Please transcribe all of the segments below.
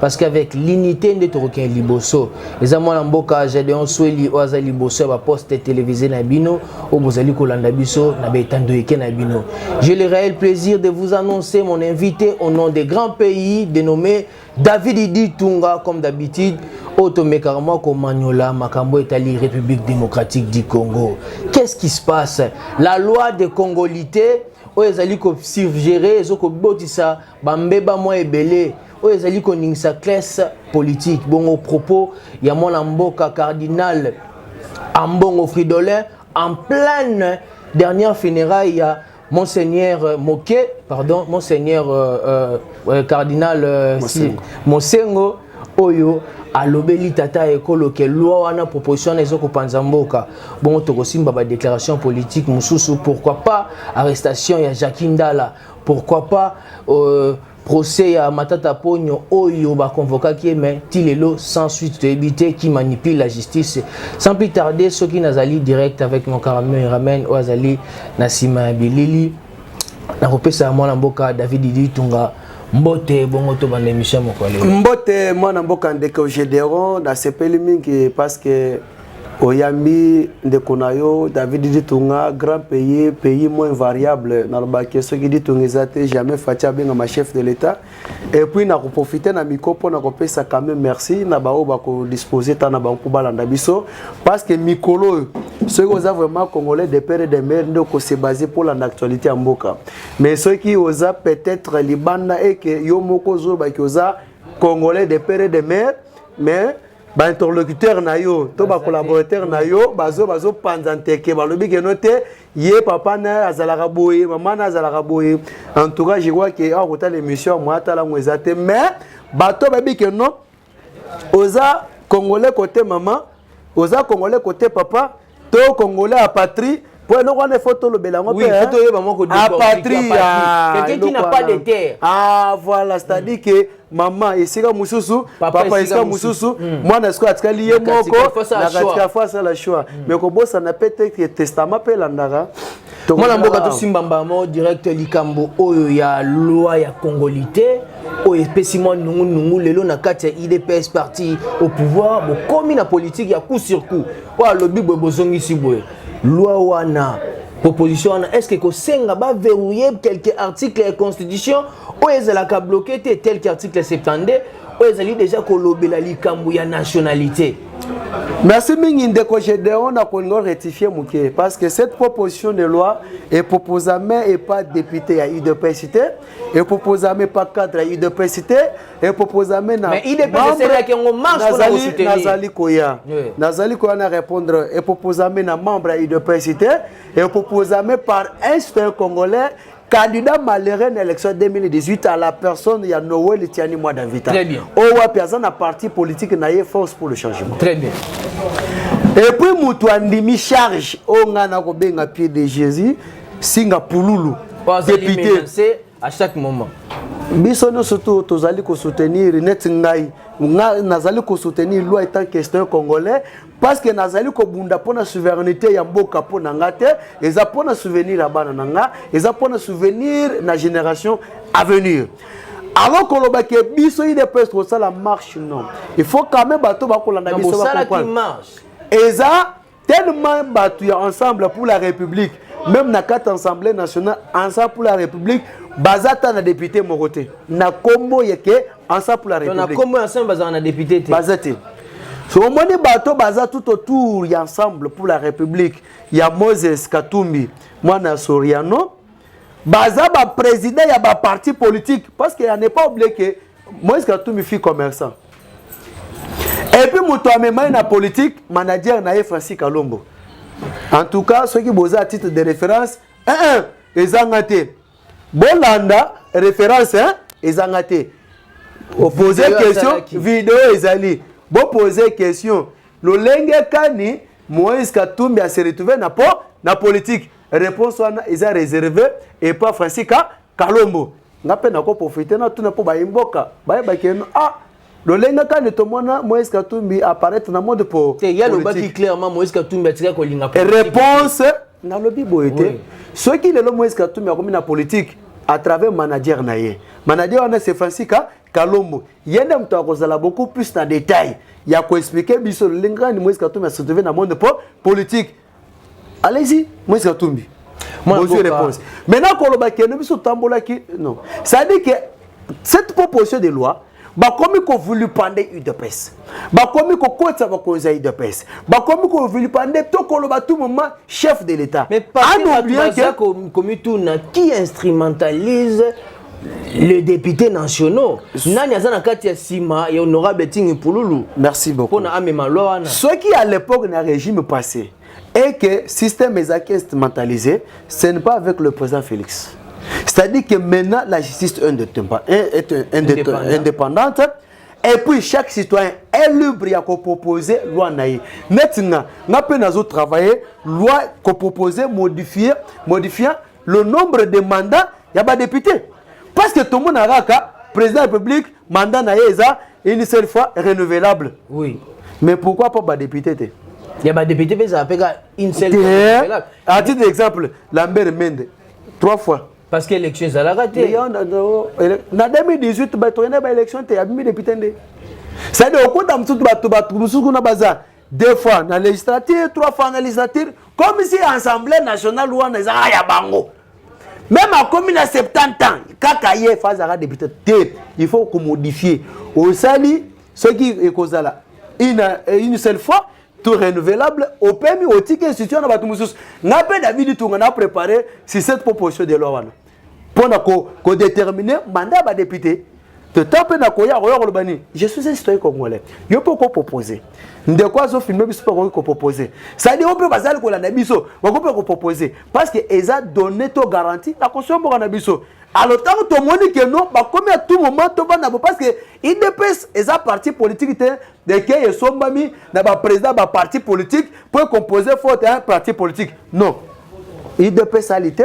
parce qu'avec l'unité nde tokokende liboso eza mwana mboka gedeon sweli oyo aza liboso ya baposte télévisé na bino oyo bozali kolanda biso na baetando eke na bino j'ai le réel plaisir de vous annoncer mon invité au nom des grands pays dénommé david idi tunga comme d'habitude oyo tomekaka mwa komanyola makambo etali république démocratique du congo qu'est-ce qui se passe la loi de congolité oyo ezali kosurgere ezokobotisa bambeba mwa ebele oyo ezali koningisa classe politique bongo propos ya mwana mboka cardinal ambongo fridolin en pleine dernière funéraille ya monseigneur moke pardon monseigneur euh, euh, euh cardinal euh, mosengo, si, mosengo oyo alobeli tata ya ekolo ke loi wana proposition wana eza kopanza mboka bongo tokosimba badéclaration politique mosusu pourquoi pas arrestation ya jacqui ndala Pourquoi pas euh, procès ya Matata Ponyo oyo ba convokaki mais ti lelo sans suite de te qui manipule la justice sans plus tarder ceux qui nazali direct avec mon caramel ramène ou azali na sima bilili na kopesa mwana mboka David Iditunga mbote bongo tobanda émission moko lelo mbote mwana mboka ndeko gederon nasepeli mingi parce que oyambi ndeko na yo david ditunga grand pays pays moins variable nalobaki soki ditunga eza te jamais fati abengama chef de l'état epuis nakoprofite na miko mpo na kopesa quand même merci na baoyo bakodispose ta na bango mpo balanda biso parce que mikolo oyo soki oza vraiment congolais de père et de mère nde okosebase mpo landa actualité ya mboka mais soki oza peut-être libanda eke yo moko ozolobaki oza congolais de père et de mère mais ba interlocuteur na yo to ba collaborateur na yo bazo bazo panza nteke balobi keno te ye papa na azalaka boye mama na azalaka boye en tout cas je crois que awa kotala émission ya moya tala yango eza te mais bato bayebi keno oza congolais kote mama oza congolais kote papa to congolais apatrie mpo eloko wana efo tolobela yango mpeapatrie ah, voilà c'est-à-dire que mama esika mosusu papa esika mosusu hmm. mwana sikoyo atikali ye moko na katika fo asala choix hmm. mais kobosana mpe te ke testament mpe elandaka mwana mboka tosimba mbamo direct likambo oyo ya loi ya congolite oyo epesi mwa nungunungu lelo na kati ya idps parti au pouvoir bokomi na politike ya coup sur coup oyo alobi boye bozongisi boye loi wana proposition wana est ce que ekosenga baverrouille quelque article ya constitution oyo ezalaka bloke te tel que article 72 oyo ezali deja kolobela likambo ya nationalité merci mingi ndeko gedeon na kolingo rectifie moke parce que cette proposition de loi eproposame epa député ya udps te eproposame epa cadre ya udps te eproposame nazali koya nazali koya na répondre eproposame na membre ya udps te eproposame par un citoyen congolais candidat malheureux na élection 2018 à la personne ya Noël Tiani Mwa Davita. Très bien. Oyo wapi aza na parti politique na ye force pour le changement. Très bien. Et puis mutu andimi charge oyo ngai nakobenga pied de Jésus singa pululu député à chaque moment biso nyonso tu tozali kosoutenir neti ngai nazali kosoutenir loi etant question congolais parce que nazali kobunda mpo na souveraineté ya mboka mpo na nga te eza mpo na souvenir ya bana na nga eza mpo na souvenir na génération avenir alors koloba ke biso idps kosala marche non il faut quand même bato bakolanda biso bakompana eza tellement bato ya ensemble pour la république même na kati assemblée nationale ensemble pour la république baza ata na député moko te na nkombo yeke ensemble pour la république na kombo ensemble bazala na député te baza te so omoni bato baza tout autour ya ensemble pour la république ya moses katumbi mwana soriano baza baprésident ya baparti politique parce que ya n'est pas oublié que moïse katumbi fille commerçant epuis moto amemai na politique manager na ye francis kalombo en tout cas soki boza titre de référence eh, eh, ezanga te bolanda reference hein? ezanga te opose question video ezali bopose question lolenge kani moïse katumbi ase retrouve na, po, na politique réponse wana eza réserve epa francisca kalombo nga mpe nakoprofite natuna mpo bayi mboka bayebaki eno a ah, lolenga kani tomona moïse katumbi apparaître na mode po te ya lobaki clairement moïse katumbi atika kolinga réponse nalobi boye te soki lelo moïse katumbi akomi na politique à travers manager na ye manager wana c'est francisca kalombo ye nde moto akozala beaucoup plus na détail ya koexplike biso lolenga kani moïse katumbi asetrouve na mode po politique Allez-y, Moïse Katumbi. Moi, Bonjour, réponse. Maintenant, quand on a dit que tambolaki, non. Ça dit que cette proposition de loi, bakomi kovilipande udps bakomi kokotisa bakonzi ya udps bakomi kovilipande to koloba tout moment chef de l'état mais komituna qui instrumentalise le député nationaux nani aza na kati ya sima ya honorable tingi pululu merci beaucoup pona amema loi wana soki à l'époque na régime passé et que système ezalaki instrumentalisé ce n'est pas avec le président félix c'est-à-dire que maintenant la justice est indépendante et puis chaque citoyen est libre ya kopropose loi na ye neti nga nga mpe nazotravaille loi kopropose modifie modifiant le nombre de mandat ya ba députés parce que tout le monde a kaka président de la République mandat na ye eza une seule fois renouvelable oui mais pourquoi pas ba député te ya ba député mpe ezala mpe ka une seule fois renouvelable à titre d'exemple Lambert Mende trois fois parce que élection ezalaka te na 2018 bato yende ba élection te abimi député nde c'est-à-dire okota mosusu bato bato mosusu kuna baza deux fois na législature trois fois na législature comme si assemblée nationale wana ezaka ya bango meme akomi na 70 ans kaka ye fa azalaka député te il faut komodifie osali soki ekozala une, une seule fois tout renouvelable opemi otiki institution na bato mosusu nga mpe david tunga na préparé si cette proposition de loi wana mpo na kodetermine ko manda ya badepute tota mpe na koya koya koloba nini je suis un citoyen congolais yo mpe okopropose ndeko azofilme biso mpe akoki kopropose sadi oyo mpe bazali kolanda biso bakoki mpe kopropose parce que eza donne to garanti na kosio mboka na biso alors ntango tomoni ke no bakomi a tout moment tobanda bo parce que idps eza parti politique te deke esombami na baprésident ya baparti politique mpo ecompose faute ya parti politique non idps ali te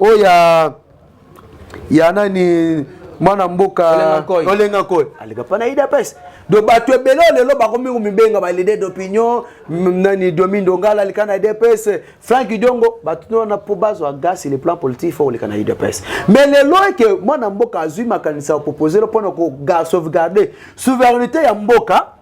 oyo ya ya nani mwana mboka olenga koi aleka mpa na idps do bato ebele oyo lelo bakomi komibenga balide d'opinion nani domi ndongala aleka na idps frank diongo bato wana mpo bazwa gasi le plan politique fo koleka na idps mais lelo eke mwana mboka azwi makanisi ya kopropose lo mpo na ko sauvegarde souveraineté ya mboka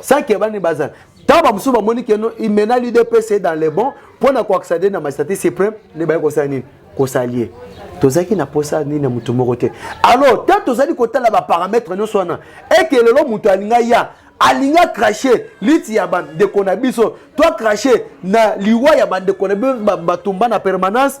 saki ya bani bazala ntango bamosusu bamoni keno imena l'udps est dans le bon mpo na koakisa de na magistati supreme nde baye kosala nini kosalie tozalaki na posa nini ya motu moko te alors ntango tozali kotala baparametre nyonso wana eke lelo moto alinga ya alinga crache liti ya bandeko na biso to acrache na liwa ya bandeko na biso batumba na permanence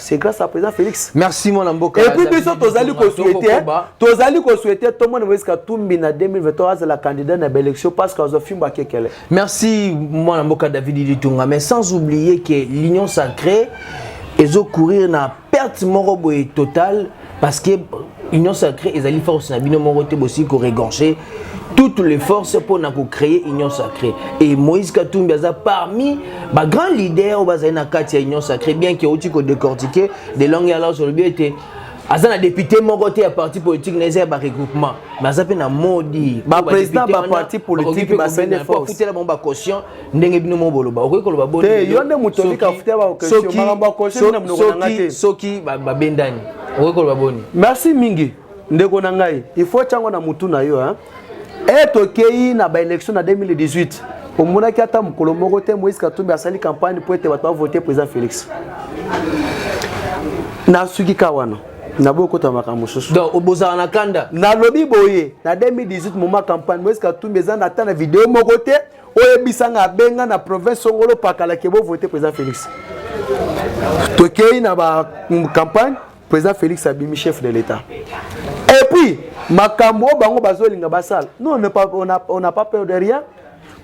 c'est grâce à président félix merci mwana mboka epuis biso tozali kosuete tozali kosuete tomona moïse katumbi na 2023 azala candidat na baélection parce que azwa fimbo akekele merci mwana mboka david litunga mais sans oublier que l'union sacrée ezo courir na perte moko boye totale parce que union sacrée ezali force na bino moko te bosili koregorge toutes les forces mpo na kocréer union sacrée et moïse katumbi aza parmi bagrand leader oyo bazali na kati ya union sacrée bien ke outi kodecortike de longue alors olobi ete aza na député moko te ya parti politique na eza ya baregroupement mais aza mpe na modi président baparti politique basende force afutela bango bacaution ndenge bino mo boloba okoki koloba boni te yo nde moto olika futa ba question makambo akosi na mnoko na ngate soki babendani okoki koloba boni merci mingi ndeko na ngai il faut tiango na mutu na yo hein e tokei na baélection na 2018 omonaki ata mokolo moko te moïse katumbi asali campagne mpo ete bato bavote président félix nasuki ka wana naboyi kota makambo mosusu donc obozala na kanda nalobi boye na 2018 moma campagne moïse katumbi eza na ata na video moko te oyebisa nga abenga na province songolo pakala ke bo vote président Félix tokei na ba campagne président Félix abimi chef de l'État et puis makambo oyo bango bazolinga basala non on n'a pas peur de rien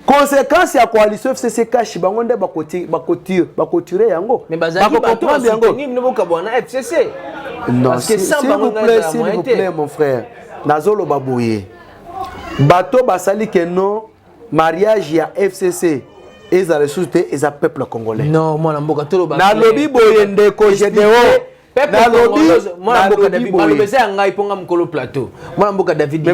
conséquence ya coalition fcc kashi bango nde bakotire yango bakokomprendre yango non s'il vous plaît s'il vous plaît mon frère nazoloba boye bato basali ke non mariage ya fcc ezala lisusu te eza peuple congolais non mwana mboka toloba nalobi boye ndeko gedeo nalobi eza ya ngai mpo nga mokolo plateau mwana mboka david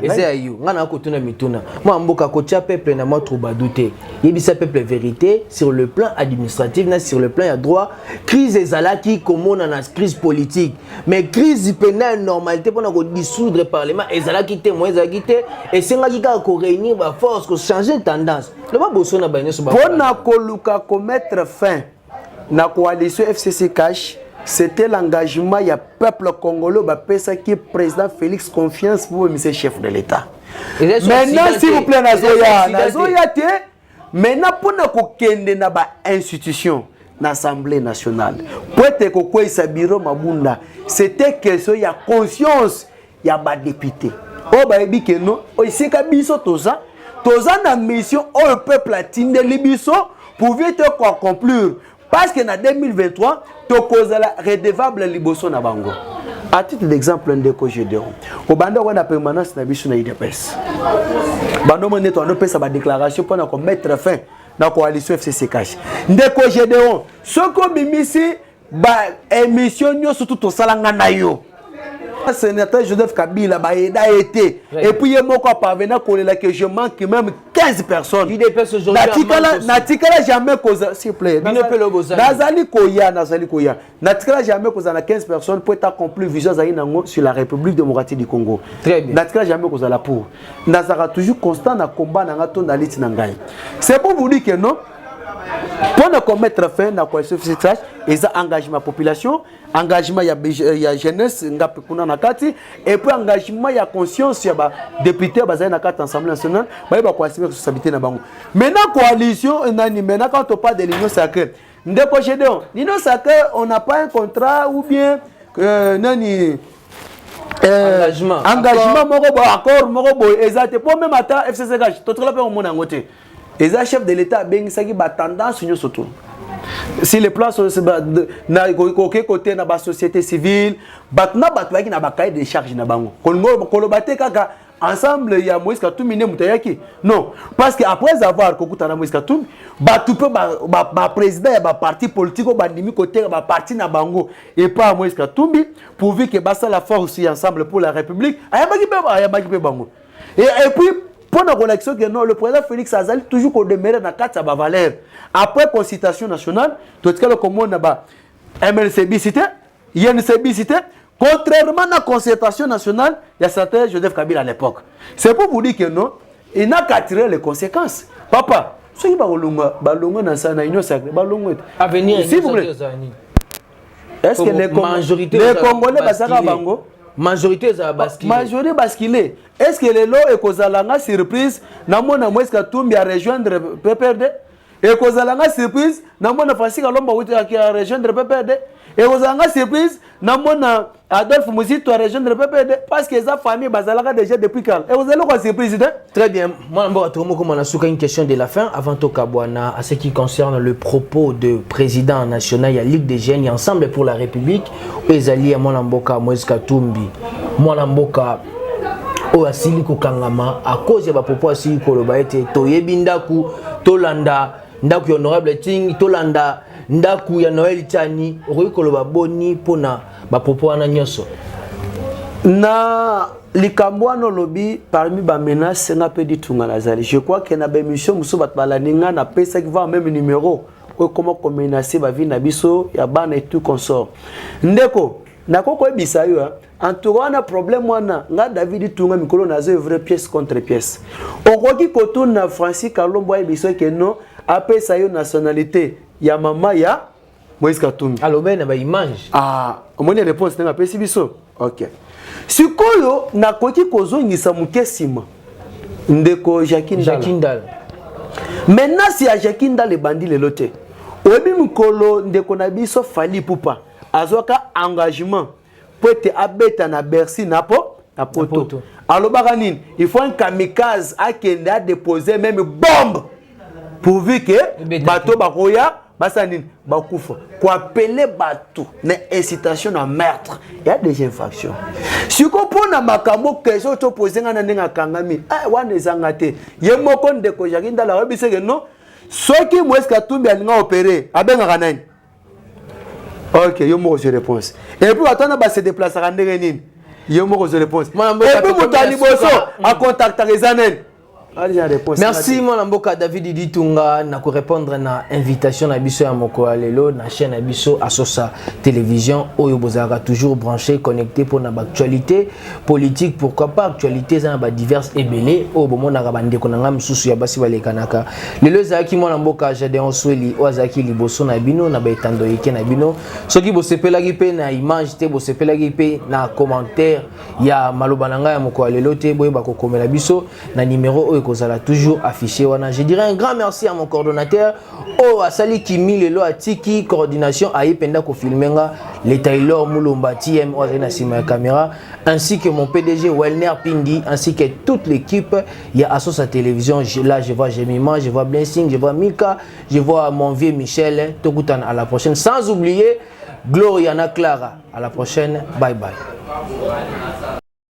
eza ya yo ngai naa kotuna mituna mwana mboka kotya peuple na mwa troubadou te yebisa peuple vérité sur le plan administratif na sur le plan ya droit crise ezalaki komonana crise politique mais crise mpena ya normalité mpona kodissoudre parlement ezalaki te moyen ezalaki te esengaki kaka koréunir baforce kochange tendance loba boso na baye nyonso mpo na koluka komettre fin na coalition fcc cash c'était l'engagement ya peuple congolais bapesaki président félix confiance mpo bemisa chef de l'état maintenant s'il vous plaît nazoya nazoya te maintenant mpo na kokende na ba institution na assemblée nationale mpo ete kokweisa biro mabunda c'était question ya conscience ya badepute oyo bayebi keno esika biso toza toza na mission oyo peuple atindeli biso pourvie te koaccomplir parce que na 2023 tokozala redevable liboso na bango à titre d'exemple ndeko gedeon obanda wana permanence na biso na idps bando mo nde toando pesa badéclaration mpo na komettre fin na coalition fcc cash ndeko gedeon soki obimisi baémission nyonso tu tosala ngai na yo sénateur joseph kabila baeda ye te epuis ye moko aparvena kolela que je manque même 15 personnes natikala jamais koza nazali koya nazali koya natikala jamais kozala na 15 personnes mpo eta compli vision azali nango sur la république démocratique du congo natikala jamais kozala pour nazalaka toujours constant na combat na ngai to na liti na ngai c'est pour vous dire que non mpo na komettre fin na coalition fiscage eza engagement population engagement ya, euh, ya jeunesse nga mpe kuna na kati et puis engagement ya conscience ya badepute bazali na kati ya assemblée nationale bayeba koassume responsabilité na bango mais na coalition nani mais na quand on parle de l'union sacrée ndeko gedeon l'union sacrée on n'a pas un contrat ou bien euh, nani euh, engagement moko boye accord moko boye eza te mpo meme ata fccage totikala mpe komona yango te eza chef de l'etat abengisaki ba tendance nyonso tu si les plans koke kote na basociété civile bato na bato bayaki na bacahier de charge na bango koloba te kaka ensemble ya moïse katumbi nde moto ayaki non parce que après avoir kokutana moïse katumbi bato mpe baprésident ba, ba ya baparti politique oyo bandimi koteka baparti na bango epa ya moïse katumbi pourvu ke basala force ya ensemble pour la république ayambaki mpe ayambaki mpe bango Et, et puis, mpo na kolakisa oke non le président félix azali toujours kodemere na kati ya bavaleur après consultation nationale totikala komona ba mlc bisi te ync bisi te contrairement na concertation nationale ya sénateur joseph kabila à l'époque c'est pour vous dire que non il n'a qu'à tirer les conséquences papa soki bakolonga balonga na union sacré balongo ete avenir s'il vous plaît est ce que les majorité les congolais bazaka bango majorité ezala bascule majorité bascule est ce que lelo ekozala nga surprise namona moise katumbi a rejoindre pprd ekozala nga surprise namona francis kalomba wuti a rejoindre pprd ekozala nga surprise namona Adolphe Muzito a rejoindre PPD parce que sa famille bazalaka déjà depuis quand Et vous allez quoi surprise hein? Très bien. Moi mboka to moko mona suka une question de la fin avant to kabwana à ce qui concerne le propos de président national ya Ligue des jeunes ensemble pour la République ezali ya mwana mboka Moïse Katumbi. Mwana mboka oyo asili kokangama à cause ya bapopo asili koloba ete toyebi ndako tolanda ndako ya honorable ting tolanda ndako ya noel chani okoki koloba boni mpona bapropos wana nyonso na likambo wana olobi parmi bamenace nga mpe ditunga nazali je crois ke na baémission mosusu bato balandi nga napesaki voir meme numéro oyo ekoma komenace bavi na biso ya bana et tout consort ndeko nakoki koyebisa yo En tout cas, wana problème wana nga David Tunga mikolo nazo vrai pièce contre pièce. Okoki kotuna Francis Kalombo ayebi so que non apesa yo nationalité ya mama ya Moïse Katumbi. Alobeli na ba image. Ah, omoni réponse ndenge apesi biso. OK. Sikoyo nakoki kozongisa moke nsima ndeko Jacques Ndala. Jacques Ndala. Menace ya Jacques Ndala ebandi lelo te. Oyebi mokolo ndeko na biso Fally Ipupa azwaka engagement mpo ete abeta na bercy na po na poto alobaka nini il faut un kamikaze akende adepose meme bombe pourvu ke bato bakoya basala nini bakufa koapele bato na incitation na meurtre ya des infractions siko mpo na makambo question topose ngai na ndenge akangami eh, wana ezanga te ye moko ndeko jaki ndala ayebiseke no soki moise katumbi alinga opere abengaka nani ok yo moko ozwi réponse epuis bato wana base déplacaka ndenge nini yo moko ozwi réponse epuis moto ya liboso akontaktaka eza nani merci mwana mboka david ditunga na korépondre na invitation na biso ya mokolo ya lelo na chaîne ya biso asosa télévision oyo bozalaka toujours branché connecté mpo na baactualité politique pourquoi pas actualité eza na ba diverses ebele oyo bomonaka bandeko na ngai mosusu ya basi balekanaka lelo ezalaki mwana mboka Gedeon Sweli oyo azalaki liboso na bino na baetando eke na bino soki bosepelaki mpe na image te bosepelaki mpe na commentaire ya maloba na ngai ya mokolo ya lelo te boyeba kokomela biso na numero oyo ekozala toujours affiché wana je dirais un grand merci à mon coordonnateur oyo asali kimi lelo atiki coordination aye mpenza kofilme nga le taylor mulumba tm oyo azali na nsima ya caméra ainsi que mon pdg welner pindi ainsi que toute l'équipe ya asosa télévision là je vois gemima je vois blessing je vois mika je vois mon vieux michel tokutana à la prochaine sans oublier gloriana clara à la prochaine bye bye